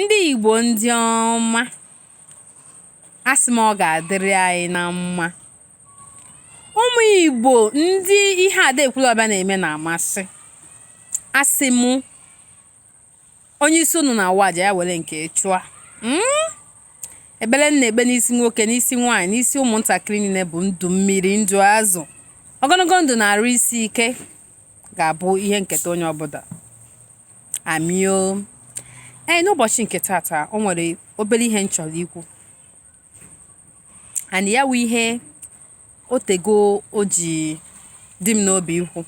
Ndị Igbo ndị ọma, a sị m ọ ga-adịrị anyị na mma. Ụmụ Igbo ndị ihe Ada Ekwulọbịa na-eme na-amasị, a sị m onye isi unu na-awa aja ya were nke chụọ. Hmm? Ekpere m na-ekpe n'isi nwoke, n'isi nwaanyị, n'isi ụmụntakịrị niile bụ ndụ mmiri, ndụ azụ. Ogologo ndụ na arụ isi ike ga-abụ ihe nketa onye ọbụla. Ami o. Ee, n'ụbọchị nke tata, o nwere obere ihe m chọrọ ikwu. And ya wụ ihe o tego o ji dị m n'obi ikwu.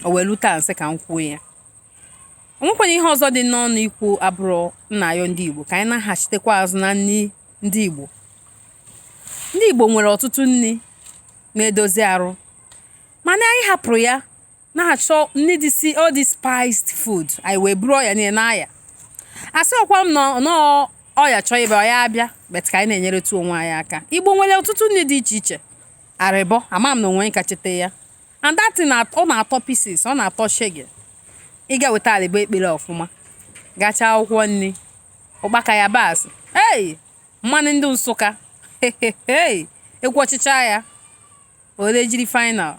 O wee lu taa n sị ka m kwuo ya. O nwekwanụ ihe ọzọ dị n'ọnụ ikwu abụrọ n na-ayọ ndị Igbo ka anyị naghachitekwa azụ na nri ndị Igbo. Ndị Igbo nwere ọtụtụ nri na-edozi arụ mana anyị hapụrụ ya na-achọ ndị dị si all these spiced food anyị wee buru ọya niile n'aya asị ọkwa m nọọ ọya chọọ ịbịa ọya abịa but ka anyị na-enyeretụ onwe anyị aka igbo nwere ọtụtụ nri dị iche iche arịbọ ama m na o nwe ka cheta ya and that thing ọ na-atọ pieces ọ na-atọ shege ị ga-eweta arịbọ ekpere ọfụma gacha akwụkwọ nri ụkpaka yabasị ei mmanụ ndị Nsụka ekwu ọchịcha ya were jiri final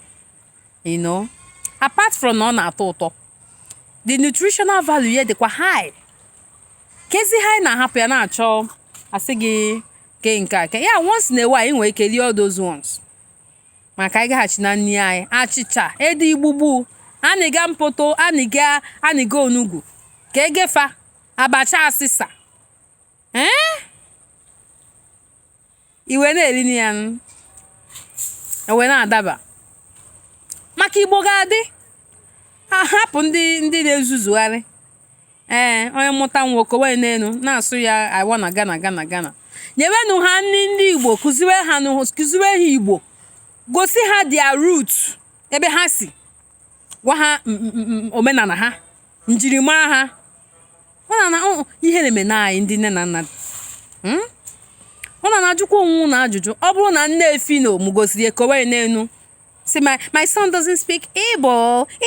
you know apart from na ọ na-atọ ụtọ the nutritional value ya dịkwa high kezị ihe anyị na-ahapụ ya na-achọ asị gị ke nke a ke ya once in a while anyị nwere ike rie all those ones ma ka anyị gaghachi na nri anyị achịcha ede igbugbu anịga mpoto anịga anịga onugbu ka egefa abacha asịsa ee eh? i wee na-eri na ya nụ. e wee na-adaba maka igbo ga-adị hapụ ndị ndị na-ezuzugharị ee onye mụta nwa o kowe n'elu na-asụ ya awa na gana gana gana nyewenụ ha nri ndị igbo kụziwe ha nụ- kụziwe ha igbo gosi ha their root ebe ha si gwa ha omenala ha njirimara ha ụna na ihe na-eme na anyị ndị nne na nna hmm? ụnụ ana-ajụkwa onwe ụnụ ajụjụ ọ bụrụ na nne Phyno mụgosịrị ya kowe n'enu sị my my son doesn't speak Igbo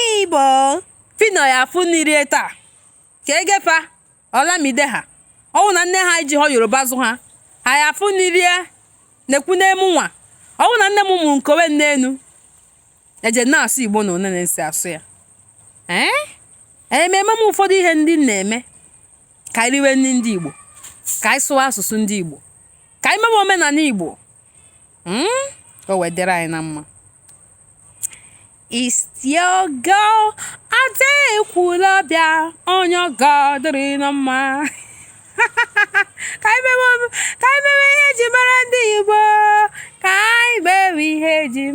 Igbo Phyno ya-afụ nni rie taa ka egefa Olamide ha ọwụ na nne ha ejihọ Yoruba zụ ha ha ya-afụ nni rie nekwene mụnwa ọwụ na nne m mụrụ m kowe n'enu eji na-asụ igbo unu nene n si asụ ya ee eh? ememe m ụfọdụ ihe ndị na-eme ka anyị riwe nri ndị igbo ka anyị sụwa asụsụ ndị igbo ka anyị mewe omenala igbo hmm? o wee dịrị anyị na mma istiogo ada ekwula bịa onye ọ ga-adịrị na mma ka anyị mewe ihe eji mara ndị Igbo ka anyị mewe ihe eji